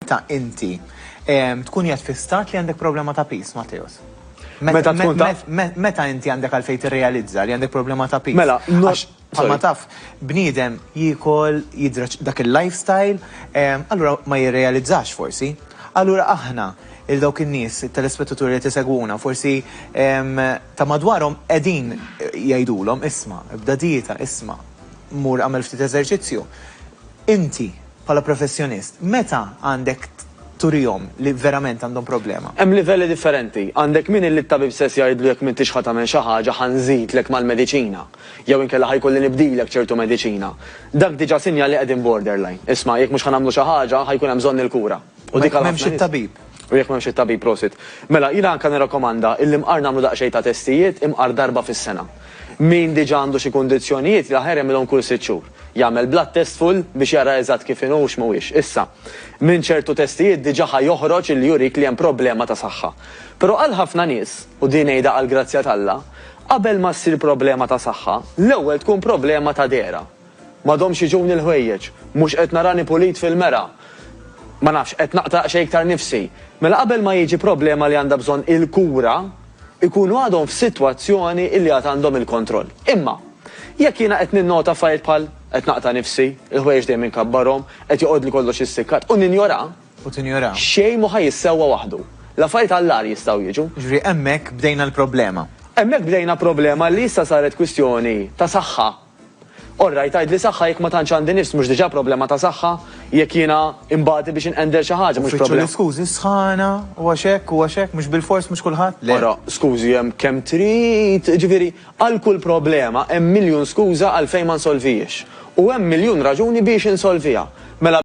Meta inti tkun qiegħed fi stat li għandek problema ta' piż, Matteus? Meta tkun taf? Meta inti għandek għalfejn tirrealizza li għandek problema ta' piż? Mela, għax bħalma taf, bniedem jiekol, jidra dak il-lifestyle, allura ma jirrealizzax forsi. Allura aħna, lil dawk in-nies, it-telespettaturi li qed isegwuna, forsi ta' madwarhom qegħdin jgħidulhom, isma', ibda dieta, isma', mur agħmel ftit eżerċizzju. Inti. Bħala professjonist, meta għandek turihom li verament għandhom problema? Hemm livelli differenti. Għandek min illi t-tabib stess jgħidlu jekk m'intix ħa tagħmel xi ħaġa ħa nżidlek mal-mediċina, jew inkella ħa jkolli nibdilek ċertu mediċina. Dak diġà sinjal li qegħdin borderline. Isma', jekk mhux ħa nagħmlu xi ħaġa, ħa jkun hemm bżonn il-kura. U jekk m'hemmx it-tabib? U jekk m'hemmx it-tabib, prosit. Mela, jiena anke nirrakkomanda illi mqar nagħmlu daqsxejn ta' testijiet, imqar darba fis-sena. Min diġà għandu xi kundizzjonijiet, l-aħjar jagħmilhom kull sitt xhur. Jagħmel blood test full biex jara eżatt kif inhu u x'ma huwiex. Issa, minn ċertu testijiet diġà ħa joħroġ illi jurik li hemm problema ta' saħħa. Però għal ħafna nies, u din ngħidha għall-grazzja t'Alla, qabel ma ssir problema ta' saħħa, l-ewwel tkun problema ta' dehra. M'għadhomx jiġuni l-ħwejjeġ, mhux qed narani pulit fil-mera, ma nafx, qed naqta' daqsxejn iktar nifsi. Mela qabel ma jiġi problema li għandha bżonn il-kura, ikunu għadhom f'sitwazzjoni li għad għandhom il-kontroll. Imma, jekk jiena qed ninnota affarijiet bħal, qed naqta' nifsi, il-ħwejjeġ dejjem inkabbarhom, qed joqgħodli kollox issikkat, u ninjora, U tinjora. xejn mhu ħa jissewwa waħdu. L-affarijiet għall-agħar jistgħu jiġu. Jiġifieri hemmhekk bdejna l-problema. Hemmhekk bdejna problema li issa saret kwistjoni ta' saħħa All right, tgħidli saħħa jekk ma tantx għandi nifs mhux diġà problema ta' saħħa, jekk jiena imbagħdi biex inqender xi ħaġa mhux problema. Uffiċċju l-iskużi sħana, u għax hekk, u għax hekk, mhux bilfors mhux kulħadd, le. Ara, skużi hemm kemm trid, jiġifieri għal kull problema hemm miljun skuża għalfejn ma nsolvihiex. U hemm miljun raġuni biex insolviha. Mela.